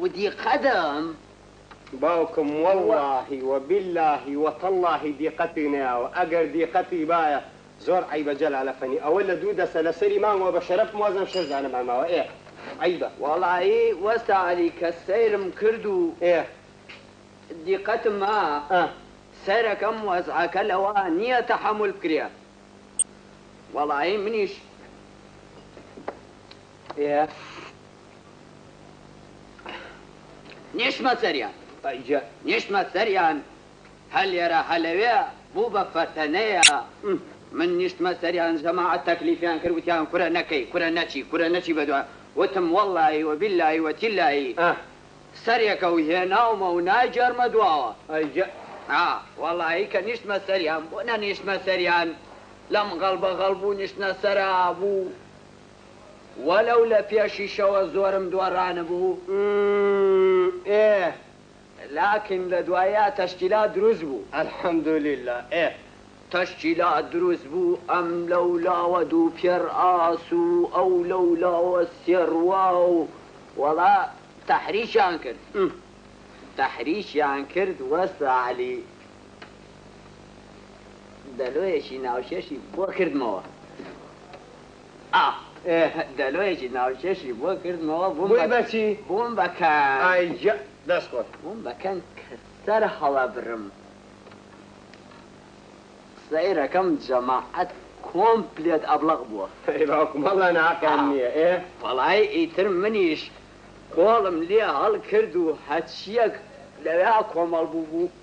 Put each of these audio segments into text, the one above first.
ودی قەدەم باوکم وەڵاهی و بیلاهی و تەڵاهی دیقەتی نەیاوە ئەگەر دیقەتی بایە زۆر عەیبە جەلال ئەفەنی ئەوە لە دوو دەسە لە سەری مانگەوە بە شەرەف موەزەم شەش دانەمان ماوە ئێ عەیبە. وەڵایی وەستا عەلی کە سەیرم کرد و ئێ دیقەتم ما ئە سەیرەکەم وەزعەکە لەوە نیە تەحەمول بکرێ وەڵایی منیش. نیشتمە سەریان نیشتمە سەریان هە لێرە هە لەوێ بوو بە فەتەنەیە من نیشتمە سەریان جەماعەت تەکلیفیان کرد وتیان کورە نەکەی کورە نەچی کورە نەچی بە دوایان وتم وەڵلایی و بیللایی و تیللایی سەرێکە و هێناومە و ناگێڕمە دواوە وەڵایی کە نیشتمە سەریان بۆ نەنیشتمە سەریان لەم غەڵبە غەڵبوو نیشتنە سەرا بوو وەلەو لە پێشیشەوە زۆرم دۆڕانبوو ئم ئێ لاکن لە دواییا تەشکیلات دروست بوو الحمدللە ئێ تەشکیلات دروست بوو ئەم لەو لاوە دوو پێڕ ئاس و ئەو لەو لاوە سێ ڕوا و وەڵا تەحریکیان کرد م تەحریکیان کرد وەستا عەلی دەلۆیەکی ناوکێشی بۆ کردمەوە. ئاخ ئێه دەلۆیەکی ناوکێشی بۆ کردمەوە بووم بە بووی بەچی؟ بووم بە کەن ئای جە دەست خۆش. بووم بە کەن کە سەر هەڵەبرم سەیرەکەم جەماعەت کۆمپلێت ئەبڵەق بووە. ئەی باوکم وەڵا ناقیان نیە ئێ. وەڵای ئیتر منیش کۆڵم لێ هەڵکرد و هەچیەک لەوێا کۆمەڵ بووبوو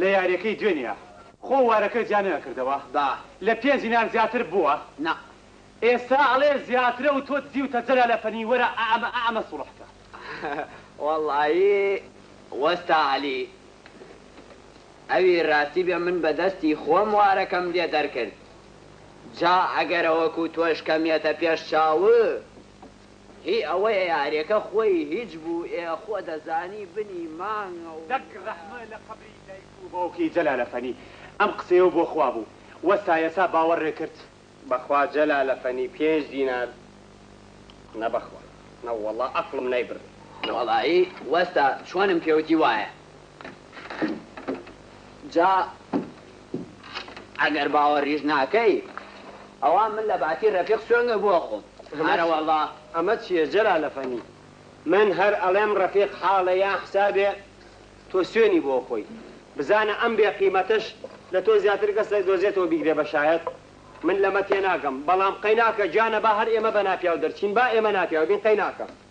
لە یاریەکەی دوێنیا خۆ وارەکە جیا نەئەکردەوە با لە پێنج نان زیاتر بووە نا ئێستا ئەڵێ زیاترە و تۆ دزیوتە جەلالە فەنی وەرە ئەعەمە ئەعەمە سوڵحکە. وەڵایی وەستا عەلی ئەوی ڕاستی بێ من بە دەستی خۆم وارەکەم لێ دەرکرد جا ئەگەرە وەکو تۆش کەمیەتە پێش چاوو هی ئەوەیە یارێکە خۆی هیچ بوو ئێ خۆ دەزانی بنی مانگە و. دەک ڕەحمە لە قەبری دایک و باوکی جەلالە فەنی ئەم قسەیەو بۆ خوا بوو وەستا یەسا باوەڕێ کرد. بەخوا جەلالە فەنی پێنج دینار نە بەخوا نە وەڵا ئەقڵم نایبڕی. نەوەڵایی وەستا چۆنم پێوتی وایە جا ئەگەر باوەڕیش ناکەی ئەوا من لە باتی ڕەفیق سوێندم بۆ خۆم ئەرەوەڵا. ئەمە چیە جەلال ئەفەنی من هەر ئەڵێم ڕەفیق حاڵە یان حسابێ تۆ سوێنی بۆ خۆی بزانە ئەم بێ قیمەتەش لە تۆ زیاتر کەس نەیدۆزێتەوە بیگرێ بە شایەت من لەمە تێناگەم بەڵام قەیناکە گیانە با هەر ئێمە بە ناپیاو دەرچین با ئێمە ناپیاو بین قەیناکە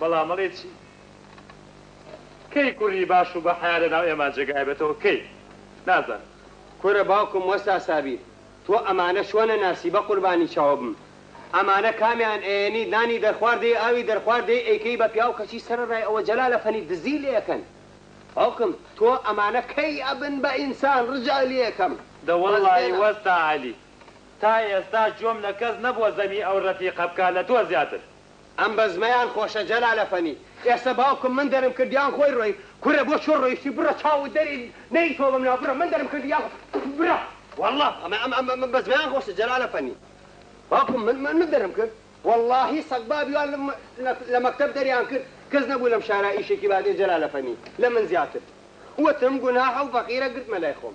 بەڵام ئەڵێ چی؟ کەی کوڕی باش و بەحەیا لە ناو ئێمە جێگایبێتەوە کەی؟ نازانم. کورە باوکم وەستا سابیر تۆ ئەمانە چۆن ئەناسی بەقوربانی چاوبم ئەمانە کامیان ئەیەنی نانی دەرخوار دەی ئاوی دەرخوار دەی ئەیکەی بە پیاو کەچی سەرەڕای ئەوە جەلالە فەنی دزی لێ ئەکەن باوکم تۆ ئەمانە کەی ئەبن بە ئینسان ڕجا لێ ئەکەم دە وەڵڵاهی وەستا عەلی تا ئێستا گوێم لە کەس نەبووە زەمی ئەو ڕەفیقە بکا لە تۆ زیاتر. ئەم بەزمەیان خۆشە جەلال ئەفەنی. ئێستا باوکم من دەرم کرد یان خۆی ڕۆی. کورە بۆ چۆن ڕۆیشتی بڕە چاوت دەری نەی تۆ بەم ناو بڕە من دەرم کردی یان بڕە وەڵا ئەمە ئەم ئەم ئەم بەزمەیان خۆشە جەلال ئەفەنی باوکم من من دەرم کرد وەڵاهی سەگبابی وان لە لە مەکتەب دەریان کرد کەس نەبوو لەم شارا ئیشێکی بادێ جەلال ئەفەنی لە من زیاتر وتم گوناحە و فەقیرە گرتمە لای خۆم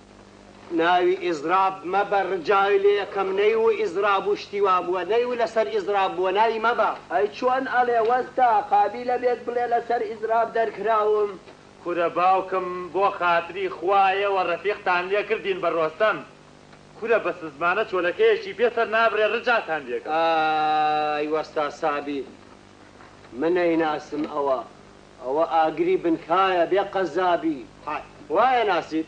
ناوی ئیزراب مەبە رجاوی لێ یەکەم نەی و ئیزراب و شتی وا بووە نەی و لەسەر ئیزراب بووە ناوی مەبە. ئەی چۆن ئەڵێ وەستا قابیلە بێت بڵێ لەسەر ئیزراب دەرکراوم. کورە باوکم بۆ خاتری خوایەوە رەفیقتان لێ کردین بە رۆستەم کورە بە سزمانە چۆلەکەیەکی پێ سەر نابرێ رجاتان لێ گەم. ئای وەستا سابیر من نەیناسم ئەوە ئەوە ئاگری بنکایە بێ قەزابی حەک وایە ناسیت.